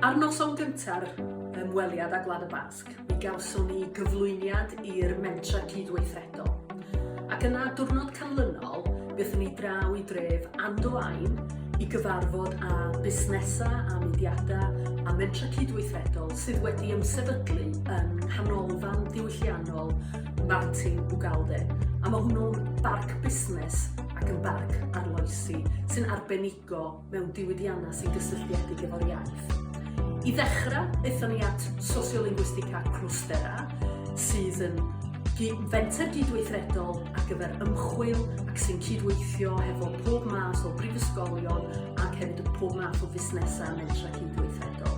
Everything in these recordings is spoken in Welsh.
Ar noson gynta'r ymweliad â Gwlad y Basg, mi gawson ni gyflwyniad i'r mentra cydweithredol. Ac yna, diwrnod canlynol, byddwn ni draw i dref Andoain i gyfarfod â busnesau a mudiadau a mentra cydweithredol sydd wedi ymsefydlu yn nghanolfan diwylliannol Martin Ugalde, a mae hwnnw'n barc busnes ac yn barc arloesi sy'n arbenigo mewn diwydiannau sy'n gysylltiedig efo'r iaith. I ddechrau, aethon ni at Sociolinguistica Crostera, sydd yn fenter gydweithredol ar gyfer ymchwil ac sy'n cydweithio hefo pob math o brifysgolion ac hefyd y pob math o fusnesau mentra cydweithredol.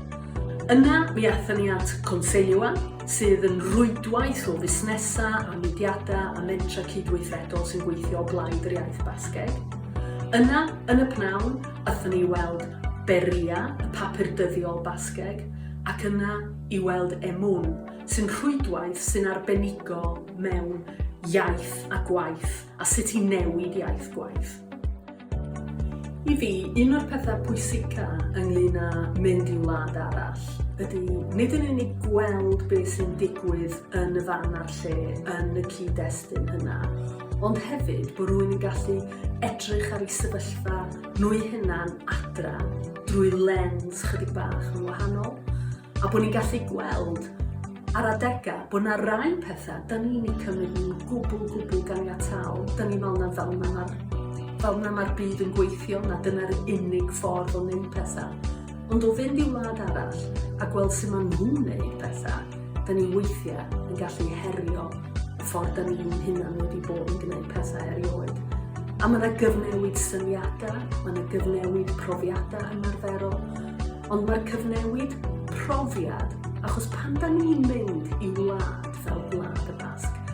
Yna, mi aethon ni at Consellua, sydd yn rwydwaith o fusnesau a mudiadau a mentrau cydweithredol sy'n gweithio o blaid yr iaith Basgeg. Yna, yn y pnawn, athon ni i weld Berria, y papur dyddiol Basgeg, ac yna i weld Emun, sy'n rhwydwaith sy'n arbenigo mewn iaith a gwaith a sut i newid iaith gwaith. I fi, un o'r pethau pwysica ynglyn â mynd i wlad arall ydy nid yn unig gweld beth sy'n digwydd yn y fan a'r lle, yn y cyd-destun hynna, ond hefyd bod rwy'n gallu edrych ar ei sefyllfa nwy hunan adra drwy lens chydig bach yn wahanol. A bod ni'n gallu gweld ar adegau bod yna rai pethau, da ni'n ei cymryd nhw'n gwbl, gwbl ganiataol. Da ni'n meddwl na fel yna mae'r fel yna mae'r byd yn gweithio, na dyna'r unig ffordd o wneud pethau. Ond o fynd i wlad arall a gweld sut maen nhw'n wneud pethau, da ni weithiau yn gallu herio y ffordd da ni'n hunan wedi bod yn gwneud pethau erioed. A mae yna gyfnewid syniadau, mae yna gyfnewid profiadau ymarferol, Ond mae'r cyfnewid profiad, achos pan da ni'n mynd i wlad fel Gwlad y Basg,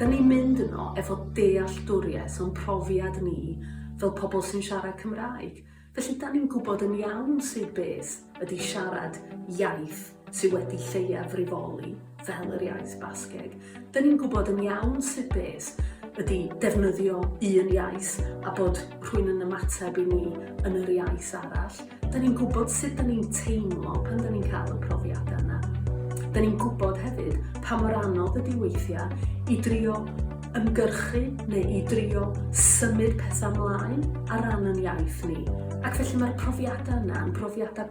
da ni'n mynd yno efo dealltwriaeth o'n profiad ni fel pobl sy'n siarad Cymraeg. Felly, da ni'n gwybod yn iawn sydd beth ydy siarad iaith sydd wedi lleiafrifoli fel yr iaith Basgeg. Dyn ni'n gwybod yn iawn sut beth ydy defnyddio un iaith a bod rhywun yn ymateb i ni yn yr iaith arall. Dyn ni'n gwybod sut dyn ni'n teimlo pan dyn ni'n cael y profiadau yna. Dyn ni'n gwybod hefyd pa mor anodd ydy weithiau i drio ymgyrchu neu i drio symud pethau mlaen ar ran yn iaith ni. Ac felly mae'r profiadau yna yn profiadau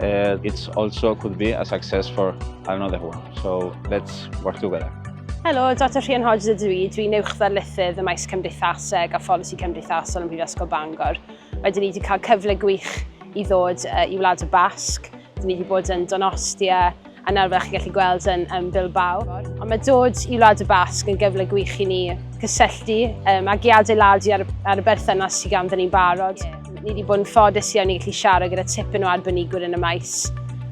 Uh, it's also could be a success for another one. So let's work together. Helo, Dr Rhian Hodge ydw i. Dwi'n uwch ddarlithydd y maes cymdeithaseg a pholisi cymdeithasol ym Mhrifysgol Bangor. Wedyn ni wedi cael cyfle gwych i ddod uh, i Wlad y Basg. Dyn ni wedi bod yn Donostia, a nawr fel chi'n gallu gweld yn, yn Bilbao. Ond mae dod i Wlad y Basg yn gyfle gwych i ni cysylltu um, ac i adeiladu ar, ar y berthynas sydd ganddyn ni'n barod. Ni wedi bod yn ffodus iawn i gallu siarad gyda tipyn o arbenigwyr yn y maes,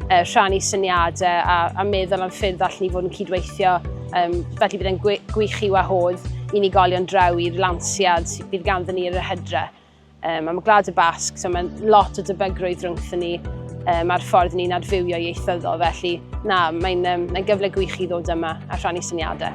uh, rhannu syniadau a, a meddwl am ffyrdd allan ni fod yn cydweithio, um, felly bydd e'n gwych i wahodd unigolion draw i'r lansiad bydd ganddyn ni yr hydre. Um, am y Gwlad y Basg, so mae lot o dybygrwydd rhwngthyn ni um, a'r ffordd ni'n adfywio ieithyddol, felly na, mae'n um, mae gyfle gwych i ddod yma a rhannu syniadau.